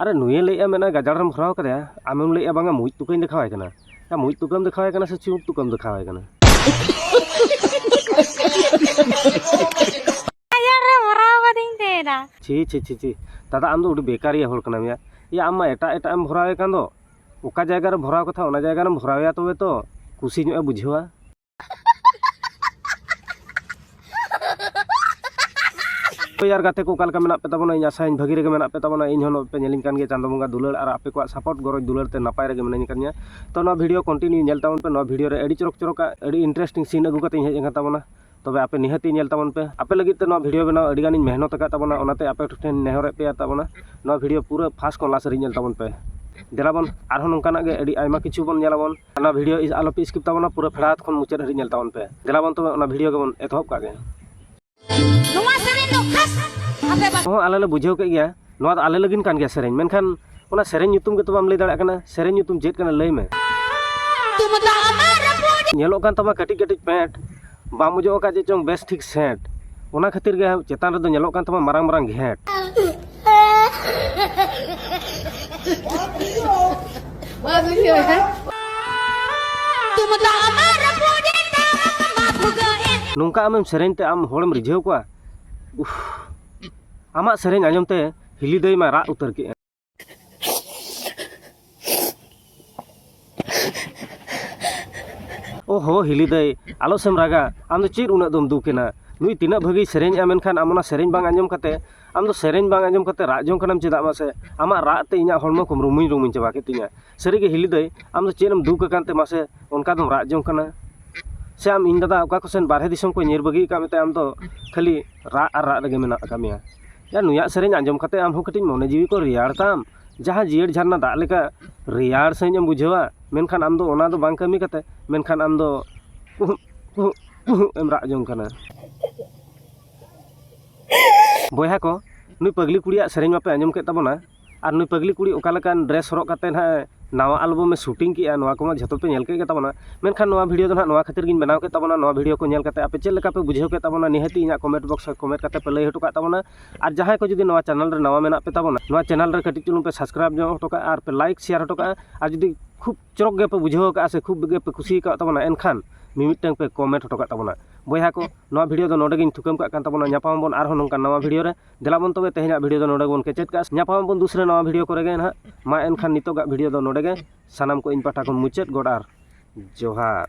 ᱟᱨᱮ ᱱᱩᱭᱮ ᱞᱟᱹᱭᱮᱜᱼᱟ ᱢᱮᱱᱮᱫᱼᱟᱭ ᱜᱟᱡᱟᱲ ᱨᱮᱢ ᱠᱷᱟᱨᱟᱣ ᱠᱟᱫᱮᱭᱟ ᱟᱢᱮᱢ ᱞᱟᱹᱭᱮᱜᱼᱟ ᱵᱟᱝᱟ ᱢᱩᱡ ᱛᱩᱠᱟᱹᱧ ᱫᱮᱠᱷᱟᱣ ᱟᱭ ᱠᱟᱱᱟ ᱭᱟ ᱢᱩᱡ ᱛᱩᱠᱟᱹᱢ ᱫᱮᱠᱷᱟᱣ ᱟᱭ ᱠᱟᱱᱟ ᱥᱮ ᱪᱩᱢᱩᱠ ᱛᱩᱠᱟᱹᱢ ᱫᱮᱠᱷᱟᱣ ᱟᱭ ᱠᱟᱱᱟ ᱜᱟᱡᱟᱲ ᱨᱮ ᱵᱷᱚᱨᱟᱣ ᱠᱟᱫᱤᱧ ᱛᱟᱦᱮᱱᱟ ᱪᱷᱤ ᱪᱷᱤ ᱪᱷᱤ ᱪᱷᱤ ᱫᱟᱫᱟ ᱟᱢ ᱫᱚ ᱟᱹᱰᱤ ᱵᱮᱠᱟᱨᱤᱭᱟᱹ ᱦᱚᱲ ᱠᱟᱱᱟᱢ ᱭᱟ ᱭᱟ ᱟᱢ ᱢᱟ ᱮᱴᱟᱜ ᱮᱴᱟᱜ ᱮᱢ ᱵᱷᱚᱨᱟᱣ ᱮ ᱠᱟᱱ ᱫᱚ ᱚᱠᱟ ᱡᱟᱭᱜᱟ ᱨᱮ ᱵᱷᱚᱨᱟᱣ ᱠᱟᱛᱷᱟ ᱚᱱᱟ ᱡᱟᱭᱜᱟ ᱨᱮᱢ ᱵᱷᱚᱨᱟᱣ ᱮᱭᱟ ᱛᱚᱵᱮ ᱛᱚ ᱠᱩᱥᱤ ᱧᱚᱜ ᱮ ᱵᱩᱡᱷᱟᱹᱣᱟ ᱯᱮᱭᱟᱨ ᱜᱟᱛᱮ ᱠᱚ ᱚᱠᱟᱞᱮᱠᱟ ᱢᱮᱱᱟᱜ ᱯᱮ ᱛᱟᱵᱚᱱᱟ ᱤᱧ ᱟᱥᱟᱭᱟᱹᱧ ᱵᱷᱟᱹᱜᱤ ᱨᱮᱜᱮ ᱢᱮᱱᱟᱜ ᱯᱮ ᱛᱟᱵᱚᱱᱟ ᱤᱧ ᱦᱚᱸ ᱯᱮ ᱧᱮᱞᱤᱧ ᱠᱟᱱ ᱜᱮᱭᱟ ᱪᱟᱸᱫᱚ ᱵᱚᱸᱜᱟ ᱫᱩᱞᱟᱹᱲ ᱟᱨ ᱟᱯᱮ ᱠᱚᱣᱟᱜ ᱥᱟᱯᱳᱨᱴ ᱜᱚᱨᱚᱡᱽ ᱫᱩᱞᱟᱹᱲ ᱛᱮ ᱱᱟᱯᱟᱭ ᱨᱮᱜᱮ ᱢᱤᱱᱟᱹᱧ ᱠᱟᱫᱤᱧᱟ ᱛᱚ ᱱᱚᱣᱟ ᱵᱷᱤᱰᱤᱭᱳ ᱠᱚᱱᱴᱤᱱᱤᱭᱩ ᱧᱮᱞ ᱛᱟᱵᱚᱱ ᱯᱮ ᱱᱚᱣᱟ ᱵᱷᱤᱰᱤᱭᱳ ᱨᱮ ᱟᱹᱰᱤ ᱪᱚᱨᱚᱠ ᱪᱚᱨᱚᱠ ᱟᱹᱰᱤ ᱤᱱᱴᱟᱨᱮᱥᱴᱤᱝ ᱥᱤᱱ ᱟᱹᱜᱩ ᱠᱟᱛᱮᱧ ᱦᱮᱡ ᱟᱠᱟᱱ ᱛᱟᱵᱚᱱᱟ ᱛᱚᱵᱮ ᱟᱯᱮ ᱱᱤᱦᱟᱹᱛᱤ ᱧᱮᱞ ᱛᱟᱵᱚᱱ ᱯᱮ ᱟᱯᱮ ᱞᱟᱹᱜᱤᱫ ᱛᱮ ᱱᱚᱣᱟ ᱵᱷᱤᱰᱤᱭᱳ ᱵᱮᱱᱟᱣ ᱟᱹᱰᱤ ᱜᱟᱱᱤᱧ ᱢᱮᱦᱱᱚᱛ ᱟᱠᱟᱫ ᱛᱟᱵᱚᱱᱟ ᱚᱱᱟᱛᱮ ᱟᱯᱮ ᱴᱷᱮᱱ ᱱᱮᱦᱚᱨᱮᱫ ᱯᱮᱭᱟ ᱛᱟᱵᱚᱱᱟ ᱱᱚᱣᱟ ᱵᱷᱤᱰᱤᱭᱳ ᱯᱩᱨᱟᱹ ᱯᱷᱟᱥᱴ ᱠᱷᱚᱱ ᱞᱟᱥᱴ ᱫᱷᱟᱹᱨᱤᱡ ᱧᱮᱞ ᱛᱟᱵᱚᱱ ᱯᱮ ᱫᱮᱞᱟᱵᱚᱱ ᱟᱨᱦᱚᱸ ᱱᱚᱝᱠᱟᱱᱟᱜ ᱜᱮ ᱟᱹᱰᱤ ᱟᱭᱢᱟ ᱠᱤᱪᱷᱩ ᱵᱚᱱ ᱧᱮᱞᱟᱵᱚᱱ ᱚᱱᱟ ᱵᱷᱤᱰᱤᱭᱳ ᱟᱞᱚᱯᱮ ᱥᱠᱤᱯ ᱛᱟᱵᱚᱱᱟ ᱯᱩᱨᱟᱹ ᱯᱷᱮᱲᱟᱛ ᱠᱷᱚᱱ ᱢᱩᱪᱟᱹᱫ ᱦᱟᱹᱨᱤᱡ ᱧᱮᱞ ᱛᱟᱵᱚᱱ ᱯᱮ ᱫᱮᱞᱟ ᱵᱚᱱ ᱛᱚᱵᱮ ᱚᱱᱟ ᱵᱷᱤᱰᱤᱭᱳ ᱜᱮᱵᱚᱱ ᱮᱛᱚᱦᱚᱵ ᱠᱟᱜ ᱜᱮ ᱱᱚᱣᱟ ᱥᱮᱨᱮᱧ ᱫᱚ ᱠᱷᱟᱥ ᱟᱯᱮ ᱵᱟ ᱦᱚᱸ ᱟᱞᱮ ᱞᱮ ᱵᱩᱡᱷᱟᱹᱣ ᱠᱮᱫ ᱜᱮᱭᱟ ᱱᱚᱣᱟ ᱫᱚ ᱟᱞᱮ ᱞᱟᱹᱜᱤᱫ ᱠᱟᱱ ᱜᱮᱭᱟ ᱥᱮᱨᱮᱧ ᱢᱮᱱᱠᱷᱟᱱ ᱚᱱᱟ ᱥᱮᱨᱮᱧ ᱧᱩᱛᱩᱢ ᱜᱮᱛᱚ ᱵᱟᱢ ᱞᱟᱹᱭ ᱫᱟᱲᱮᱭᱟᱜ ᱠᱟᱱᱟ ᱥᱮᱨᱮᱧ ᱧᱩᱛᱩᱢ ᱪᱮᱫ ᱠᱟᱱᱟ ᱞᱟᱹᱭ ᱢᱮ ᱧᱮᱞᱚᱜ ᱠᱟᱱ ᱛᱟᱢᱟ ᱠᱟᱹᱴᱤᱡ ᱠᱟᱹᱴᱤᱡ ᱯᱮᱸᱴ ᱵᱟᱢ ᱚᱡᱚᱜ ᱟᱠᱟᱫ ᱪᱮᱫ ᱪᱚᱝ ᱵᱮᱥ ᱴᱷᱤᱠ ᱥᱮᱱᱴ ᱚᱱᱟ ᱠᱷᱟᱹᱛᱤᱨ ᱜᱮ ᱪᱮᱛᱟᱱ ᱨᱮᱫᱚ ᱧᱮᱞᱚᱜ ᱠᱟᱱ ᱛᱟᱢᱟ ᱢᱟᱨᱟᱝ ᱢᱟᱨᱟᱝ ᱜᱷᱮᱸᱴ ᱱᱚᱝᱠᱟ ᱟᱢᱮᱢ ᱥᱮᱨᱮᱧ ᱛᱮ ᱟᱢ ᱦᱚᱲᱮᱢ ᱨᱤᱡᱷᱟᱹᱣ ᱠᱚᱣᱟ ᱟᱢᱟᱜ ᱥᱮᱨᱮᱧ ᱟᱸᱡᱚᱢ ᱛᱮ ᱦᱤᱞᱤᱫᱟᱹᱭ ᱢᱟ ᱨᱟᱜ ᱩᱛᱟᱹᱨ ᱠᱮᱫᱼᱟ ᱚ ᱦᱚ ᱦᱤᱞᱤ ᱫᱟᱹᱭ ᱟᱞᱚ ᱥᱮᱢ ᱨᱟᱜᱟ ᱟᱢ ᱫᱚ ᱪᱮᱫ ᱩᱱᱟᱹᱜ ᱫᱚᱢ ᱫᱩᱠ ᱮᱱᱟ ᱱᱩᱭ ᱛᱤᱱᱟᱹᱜ ᱵᱷᱟᱹᱜᱤ ᱥᱮᱨᱮᱧ ᱮᱫᱟ ᱢᱮᱱᱠᱷᱟᱱ ᱟᱢ ᱚᱱᱟ ᱥᱮᱨᱮᱧ ᱵᱟᱝ ᱟᱸᱡᱚᱢ ᱠᱟᱛᱮ ᱟᱢ ᱫᱚ ᱥᱮᱨᱮᱧ ᱵᱟᱝ ᱟᱸᱡᱚᱢ ᱠᱟᱛᱮ ᱨᱟᱜ ᱡᱚᱝ ᱠᱟᱱᱟᱢ ᱪᱮᱫᱟᱜ ᱢᱟᱥᱮ ᱟᱢᱟᱜ ᱨᱟᱜ ᱛᱮ ᱤᱧᱟᱹᱜ ᱦᱚᱲᱢᱚ ᱠᱚ ᱨᱩᱢᱩᱭ ᱨᱩᱢᱩᱭ ᱪᱟᱵᱟ ᱠᱮᱫ ᱛᱤᱧᱟᱹ ᱥᱟᱹᱨᱤ ᱜᱮ ᱦᱤᱞᱤ ᱫᱟᱹᱭ ᱟᱢ ᱫᱚ ᱪᱮᱫ ᱮᱢ ᱫᱩᱠ ᱟᱠᱟᱱ ᱛᱮ ᱢᱟᱥᱮ ᱚᱱᱠᱟ ᱫᱚᱢ ᱨᱟᱜ ᱡᱚᱝ ᱠᱟᱱᱟ ᱥᱮ ᱟᱢ ᱤᱧ ᱫᱟᱫᱟ ᱚᱠᱟ ᱠᱚᱥᱮᱱ ᱵᱟᱦᱨᱮ ᱫᱤᱥᱚᱢ ᱠᱚ ᱧᱤᱨ ᱵᱟᱹᱜᱤ ᱟᱠᱟᱫ ᱢᱮᱛᱮ ᱟᱢ ᱫᱚ ᱠᱷᱟᱹᱞᱤ ᱨᱟᱜ ᱟᱨ ᱨᱟᱜ ᱨᱮᱜᱮ ᱢᱮᱱᱟᱜ ᱟᱠᱟᱫ ᱢᱮᱭᱟ ᱭᱟ ᱱᱩᱭᱟᱜ ᱥᱮᱨᱮᱧ ᱟᱸᱡᱚᱢ ᱠᱟᱛᱮ ᱟᱢ ᱦᱚᱸ ᱠᱟᱹᱴᱤᱡ ᱢᱚᱱᱮ ᱡᱤᱣᱤ ᱠᱚ ᱨᱮᱭᱟᱲ ᱛᱟᱢ ᱡᱟᱦᱟᱸ ᱡᱤᱭᱟᱹᱲ ᱡᱷᱟᱨᱱᱟ ᱫᱟᱜ ᱞᱮᱠᱟ ᱨᱮᱭᱟᱲ ᱥᱟᱺᱦᱤᱡ ᱮᱢ ᱵᱩᱡᱷᱟᱹᱣᱟ ᱢᱮᱱᱠᱷᱟᱱ ᱟᱢ ᱫᱚ ᱚᱱᱟ ᱫᱚ ᱵᱟᱝ ᱠᱟᱹᱢᱤ ᱠᱟᱛᱮ ᱢᱮᱱᱠᱷᱟᱱ ᱟᱢ ᱫᱚ ᱩᱦᱩᱜ ᱩᱦᱩᱜ ᱩᱦᱩᱜ ᱮᱢ ᱨᱟᱜ ᱡᱚᱝ ᱠᱟᱱᱟ ᱵᱚᱭᱦᱟ ᱠᱚ ᱱᱩᱭ ᱯᱟᱹᱜᱽᱞᱤ ᱠᱩᱲᱤᱭᱟᱜ ᱥᱮᱨᱮᱧ ᱢᱟᱯᱮ ᱟᱸᱡᱚᱢ ᱠᱮᱫ ᱛᱟᱵᱚᱱᱟ ᱟᱨ ᱱᱩᱭ ᱯᱟᱹᱜᱽᱞᱤ ᱠᱩᱲᱤ ᱚᱠᱟ ᱞᱮᱠᱟᱱ ᱰᱨᱮᱥ ᱦᱚᱨᱚᱜ ᱠᱟᱛᱮᱫ ᱦᱟᱸᱜ ᱱᱟᱣᱟ ᱮᱞᱵᱟᱢ ᱮ ᱥᱩᱴᱤᱝ ᱠᱮᱫᱼᱟ ᱱᱚᱣᱟ ᱠᱚᱢᱟ ᱡᱷᱚᱛᱚ ᱯᱮ ᱧᱮᱞ ᱠᱮᱫ ᱜᱮᱛᱟᱵᱚᱱᱟ ᱢᱮᱱᱠᱷᱟᱱ ᱱᱚᱣᱟ ᱵᱷᱤᱰᱭᱳ ᱫᱚ ᱦᱟᱸᱜ ᱱᱚᱣᱟ ᱠᱷᱟᱹᱛᱤᱨ ᱜᱤᱧ ᱵᱮᱱᱟᱣ ᱠᱮᱫ ᱛᱟᱵᱚᱱᱟ ᱱᱚᱣᱟ ᱵᱷᱤᱰᱭᱳ ᱠᱚ ᱧᱮᱞ ᱠᱟᱛᱮᱫ ᱟᱯᱮ ᱪᱮᱫ ᱞᱮᱠᱟ ᱯᱮ ᱵᱩᱡᱷᱟᱹᱣ ᱠᱮᱫ ᱛᱟᱵᱚᱱᱟ ᱱᱤᱦᱟᱹᱛᱤ ᱤᱧᱟᱹᱜ ᱠᱚᱢᱮᱱᱴ ᱵᱚᱠᱥ ᱨᱮ ᱠᱚᱢᱮᱱᱴ ᱠᱟᱛᱮᱫ ᱯᱮ ᱞᱟᱹᱭ ᱦᱚᱴᱚ ᱠᱟᱜ ᱛᱟᱵᱚᱱᱟ ᱟᱨ ᱡᱟᱦᱟᱸᱭ ᱠᱚ ᱡᱩᱫᱤ ᱱᱚᱣᱟ ᱪᱮᱱᱮᱞ ᱨᱮ ᱱᱟᱣᱟ ᱢᱮᱱᱟᱜ ᱯᱮ ᱛᱟᱵᱚᱱᱟ ᱱᱚᱣᱟ ᱪᱮᱱᱮᱞ ᱨᱮ ᱠᱟᱹᱴᱤᱡ ᱪᱩᱞᱩᱝ ᱯᱮ ᱥᱟᱵᱥᱠᱨᱟᱭᱤᱵᱽ ᱧᱚᱜ ᱦᱚᱴᱚ ᱠᱟᱜᱼᱟ ᱟᱨ ᱯᱮ ᱞᱟᱭᱤᱠ ᱥᱮᱭᱟᱨ ᱦᱚᱴᱚ ᱠᱟᱜᱼᱟ ᱟᱨ ᱡᱩᱫᱤ ᱠᱷᱩᱵᱽ ᱪᱚᱨᱚᱠ ᱜᱮᱯᱮ ᱵᱩᱡᱷᱟᱹᱣ ᱠᱟᱜᱼᱟ ᱥᱮ ᱠᱷᱩᱵᱽ ᱜᱮᱯᱮ ᱠᱩᱥᱤ ᱠᱟᱣᱟᱫ ᱛᱟᱵᱚᱱᱟ ᱮᱱᱠᱷᱟᱱ ᱢᱤᱢᱤᱫᱴᱟᱹᱝ ᱯᱮ ᱠᱚᱢᱮᱱᱴ ᱦᱚᱴᱚ ᱠᱟᱜ ᱛᱟᱵᱚᱱᱟ ᱵᱚᱭᱦᱟ ᱠᱚ ᱱᱚᱣᱟ ᱵᱷᱤᱰᱭᱳ ᱫᱚ ᱱᱚᱰᱮ ᱜᱤᱧ ᱛᱷᱩᱠᱟᱹᱢ ᱠᱟᱜ ᱠᱟᱱ ᱛᱟᱵᱚᱱᱟ ᱧᱟᱯᱟᱢ ᱟᱵᱚᱱ ᱟᱨᱦᱚᱸ ᱱᱚᱝᱠᱟᱱ ᱱᱟᱣᱟ ᱵᱷᱤᱰᱭᱳ ᱨᱮ ᱫᱮᱞᱟ ᱵᱚᱱ ᱛᱚᱵᱮ ᱛᱮᱦᱮᱧᱟᱜ ᱵᱷᱤᱰᱤᱭᱳ ᱫᱚ ᱱᱚᱰᱮ ᱜᱮᱵᱚᱱ ᱠᱮᱪᱮᱫ ᱠᱟᱜᱼᱟ ᱧᱟᱯᱟᱢ ᱟᱵᱚᱱ ᱫᱩᱥᱨᱮ ᱱᱟᱣᱟ ᱵᱷᱤᱰᱤᱭᱳ ᱠᱚᱨᱮ ᱜᱮ ᱱᱟᱦᱟᱜ ᱢᱟ ᱮᱱᱠᱷᱟᱱ ᱱᱤᱛᱚᱜᱟᱜ ᱵᱷᱤᱰᱤᱭᱳ ᱫᱚ ᱱᱚᱰᱮ ᱜᱮ ᱥᱟᱱᱟᱢ ᱠᱚ ᱤᱧ ᱯᱟᱦᱴᱟ ᱠᱷᱚᱱ ᱢᱩᱪᱟᱹᱫ ᱜᱚᱰ ᱟᱨ ᱡᱚᱦᱟᱨ